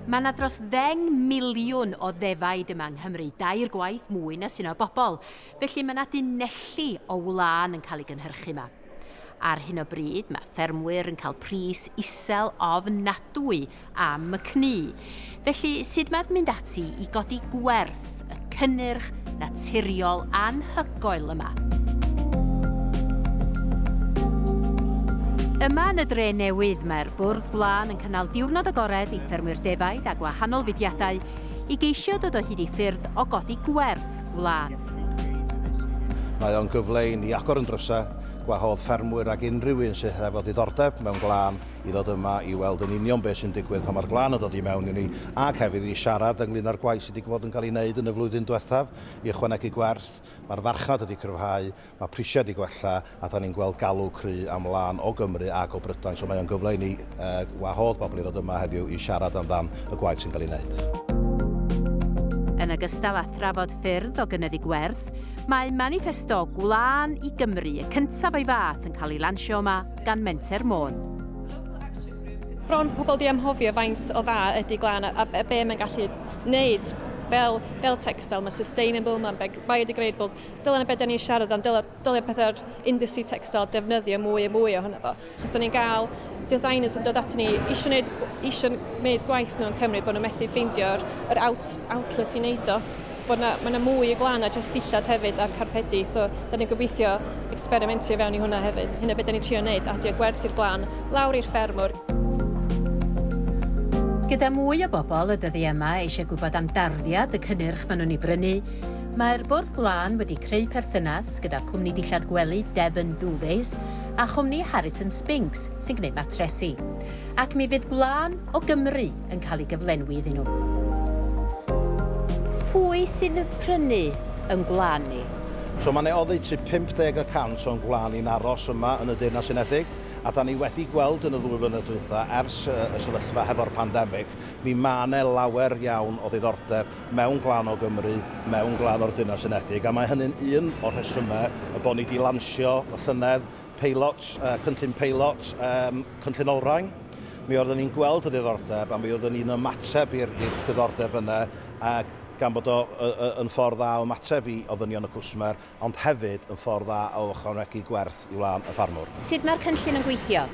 Mae yna dros ddeng miliwn o ddefaid yma yng Nghymru, dair gwaith mwy na sy'n o bobl, felly mae yna dunelli o wlân yn cael ei gynhyrchu yma. Ar hyn o bryd mae ffermwyr yn cael pris isel ofnadwy am y cnu, felly sut mae'n mynd ati i godi gwerth? y cynnyrch naturiol anhygoel yma. Yma yn y dre newydd, mae'r bwrdd blaen yn cynnal diwrnod agored i ffermwyr defaid a gwahanol fudiadau i geisio dod o hyd i ffyrdd o godi gwerth gwlad. Mae o'n gyfle i ni agor yn drysau, gwahodd ffermwyr ac unrhyw un sydd hefo diddordeb mewn gwlân i ddod yma i weld yn union beth sy'n digwydd pan mae'r glan yn dod i mewn i ni, ac hefyd i siarad ynglyn â'r gwaith sydd wedi bod yn cael ei wneud yn y flwyddyn diwethaf i ychwanegu gwerth. Mae'r farchnad wedi cryfhau, mae prisiau wedi gwella, a da ni'n gweld galw cry am lan o Gymru ac o Brydain. So mae o'n gyfle i ni, uh, wahodd bobl i ddod yma heddiw i siarad amdan y gwaith sy'n cael ei wneud. Yn ogystal â thrafod ffyrdd o gynyddu gwerth, mae maniffesto Gwlân i Gymru, y cyntaf o'i fath, yn cael ei lansio yma, gan Menter Môn. Bron pobl di amhofio faint o dda ydy glan a, a be mae'n gallu wneud fel, fel textile, mae sustainable, mae'n biodegradable. Dylen y beth da ni'n siarad am, dylen, dylen pethau'r industry textile defnyddio mwy a mwy ohono fo. Chos da ni'n cael designers yn dod at ni eisiau gwneud, eisiau gwneud gwaith nhw'n Cymru bod nhw'n methu ffeindio'r yr out, outlet i wneud o. bod yna, mae yna mwy i glan na jyst dillad hefyd a'r carpedi, so da ni'n gobeithio experimentio i fewn i hwnna hefyd. Hynna beth da ni'n trio wneud, adio gwerth i'r glan, lawr i'r ffermwr. Gyda mwy o bobl y dyddiau yma eisiau gwybod am darddiad y cynnyrch maen nhw'n ei brynu, mae'r Bwrdd Gwlân wedi creu perthynas gyda cwmni dillad gwely Devon Duvets a chwmni Harrison Spinks sy'n gwneud matresi. Ac mi fydd gwlân o Gymru! yn cael ei gyflenwi iddyn nhw. Pwy sydd yn prynu yn gwlân ni? So mae 'ne oddeutu 50 y cant o'n gwlân ni'n aros yma yn y Deyrnas Unedig, a 'dan ni wedi gweld yn y ddwy flynedd dwytha, ers y sefyllfa hefo'r pandemig, mi ma' 'ne lawer iawn o ddiddordeb mewn gwlân o Gymru, mewn gwlân o'r Deyrnas Unedig, a mae hynny'n un o'r rhesymau y bod ni 'di lansio y llynedd peilot, cynllun peilot, um, cynllun olrhain, mi oeddwn ni'n gweld y diddordeb a mi oeddwn ni'n ymateb i'r diddordeb yna ac gan bod o yn ffordd dda o ymateb i ofynion y cwsmer ond hefyd yn ffordd dda o ychwanegu gwerth i wlân y ffarmwr. Sut mae'r cynllun yn gweithio?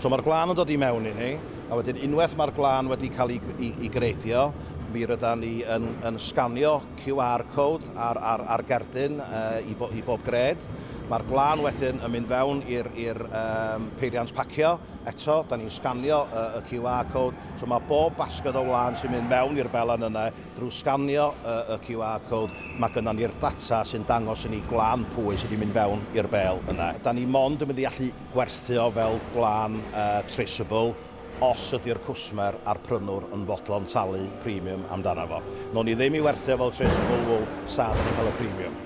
So mae'r gwlân yn dod i mewn i ni, a wedyn unwaith mae'r gwlân wedi cael ei, ei, ei greidio, mi rydan ni yn, yn sganio QR code ar ar ar gerdyn yy i bo- i bob gred. Mae'r gwlân wedyn yn mynd fewn i'r i'r yym peiriant pacio. Eto, da ni'n sganio y y QR code. So mae bob basged o wlân sy'n mynd mewn i'r belen yna, drwy sganio y y QR code, mae gynnon ni'r data sy'n dangos i ni gwlân pwy sy 'di mynd fewn i'r bêl yna. Da ni mond yn mynd i allu gwerthu o fel gwlân yy traceable. os ydy'r cwsmer a'r prynwr yn fodlon talu premium amdano fo. Nown ni ddim i werthu o fel Tracy Woolwool, sad yn ei cael y premium.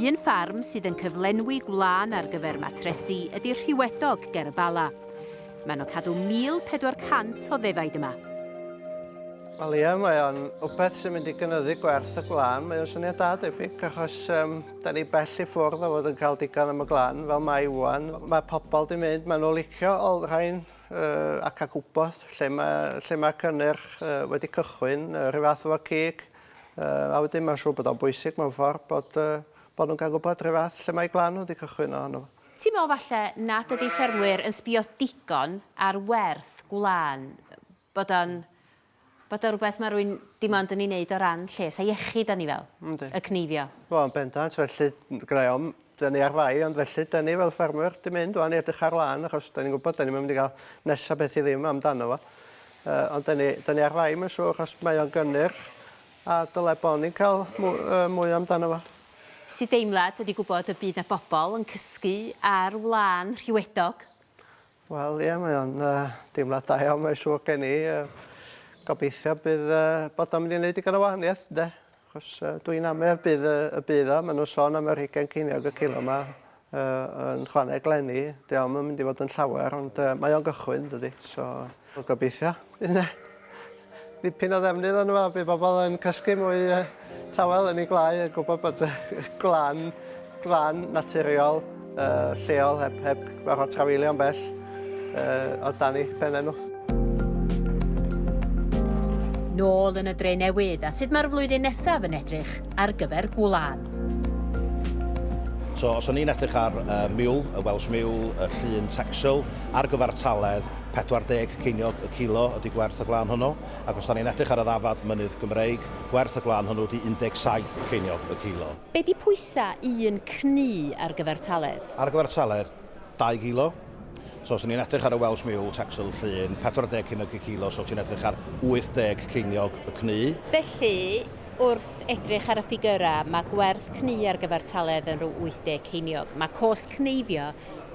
Un ffarm sydd yn cyflenwi gwlân ar gyfer matresi ydy Rhiwedog ger y Bala. Mae nhw cadw 1,400 o ddefaid yma. Wel ie, mae o'n wbeth sy'n mynd i gynyddu gwerth y gwlân. Mae o'n syniad da debyg achos um, Da ni bell i ffwrdd o fod yn cael digon am y glan, fel mae Iwan. Mae pobl di mynd, maen nhw'n licio olrhain uh, ac a gwybod lle mae, lle mae cynnyrch uh, wedi cychwyn, uh, rhyw fath o'r cig. Uh, a wedyn mae'n siŵr bod o'n bwysig mewn ffordd bod, uh, bod nhw'n cael gwybod rhyw fath lle mae glan wedi cychwyn ohono. Ti'n meddwl falle nad ydy ffermwyr yn sbio digon ar werth gwlan, bod o'n bod o rwbeth ma' rwy'n dim ond yn ei wneud o ran lles a iechyd da ni fel... Yndi. ...y cneifio. Wel yn bendant felly gyda i ofn 'da ni ar fai ond felly 'da ni fel ffermwyr 'di mynd ŵan i edrych ar wlân achos 'da ni'n gwbod 'da ni'm yn mynd i ga'l nesa beth i ddim amdano fo yy ond 'da ni 'da ni ar fai mae'n siŵr achos mae o'n gynnyrch a dyle bo' ni'n ca'l mw- yy mwy amdano fo. Sy'n deimlad ydi gwbod y bydd 'na bobol yn cysgu ar wlân rhiwedog Wel ie mae o'n yy deimlad da iawn mae siŵr gen i yy gobeithio bydd yy bod o'n mynd i neud digon o wahaniaeth ynde? Achos yy dwi'n amer bydd yy y bydd o ma' nw'n sôn am yr hugain ceiniog y cilo 'ma yy yn chwaneg leni 'di o'm yn mynd i fod yn llawer ond yy mae o'n gychwyn dydi so wel gobeithio bydd 'ne Dipyn o ddefnydd yno fo by bobol yn cysgu mwy yy tawel yn ei gwlâu a gwbo bod y gwlân glân naturiol yy lleol heb heb gorfod trafeilio'n bell yy o dan ei phenne nhw. Nôl yn y dre newydd a sut mae'r flwyddyn nesaf yn edrych ar gyfer gwlân. So os o'n i'n edrych ar y miwl, y Welsh miwl, y llun Texel ar gyfartaledd, 40 ceiniog y kilo ydy gwerth y gwlân hwnnw, ac os 'da ni'n edrych ar y ddafad mynydd Gymreig, gwerth y gwlân hwnnw ydy 17 ceiniog y kilo. Be ydy pwysa un cnu ar gyfer taledd? Ar gyfer taledd, dau gilo. So os 'da ni'n edrych ar y Welsh Mule, Texel, Llŷn, 40 ceiniog y kilo, so ti'n edrych ar 80 ceiniog y cnu. Felly, wrth edrych ar y ffigyrau, mae gwerth cnu ar gyfer taledd yn rhyw 80 ceiniog. Mae cost cneifio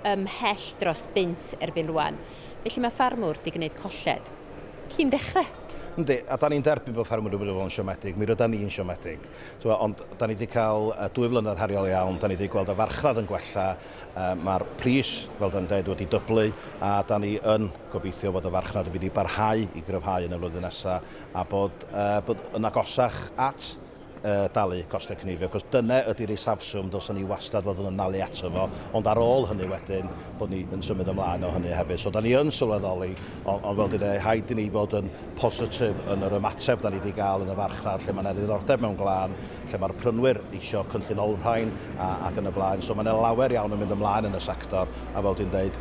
ymhell dros bunt erbyn rwan, felly mae ffarmwr di gneud colled. Cyn dechre! Yndi, a da ni'n derbyn bod ffarmwr di bod yn siomedig, mi rydan ni'n siomedig. T'mo, ond da ni di cael dwy flynedd heriol iawn, da ni di gweld y farchnad yn gwella, mae'r pris, fel da ni'n deud, wedi dyblu, a da ni yn gobeithio fod y farchnad yn mynd i barhau i gryfhau yn y flwyddyn nesa, a bod yn agosach at uh, dalu costau cynifio, cos dyna ydy'r isafswm dylsyn ni wastad fod yn malu ato fo, ond ar ôl hynny wedyn bod ni yn symud ymlaen o hynny hefyd. So da ni yn sylweddoli, ond, ond fel dyna, haid i ni fod yn positif yn yr ymateb da ni wedi cael yn y farchnad lle mae yna ddiddordeb mewn glân, lle mae'r prynwyr eisiau cynllun olrhain a, ac yn y blaen. So mae yna lawer iawn yn mynd ymlaen yn y sector, a fel dwi'n dweud,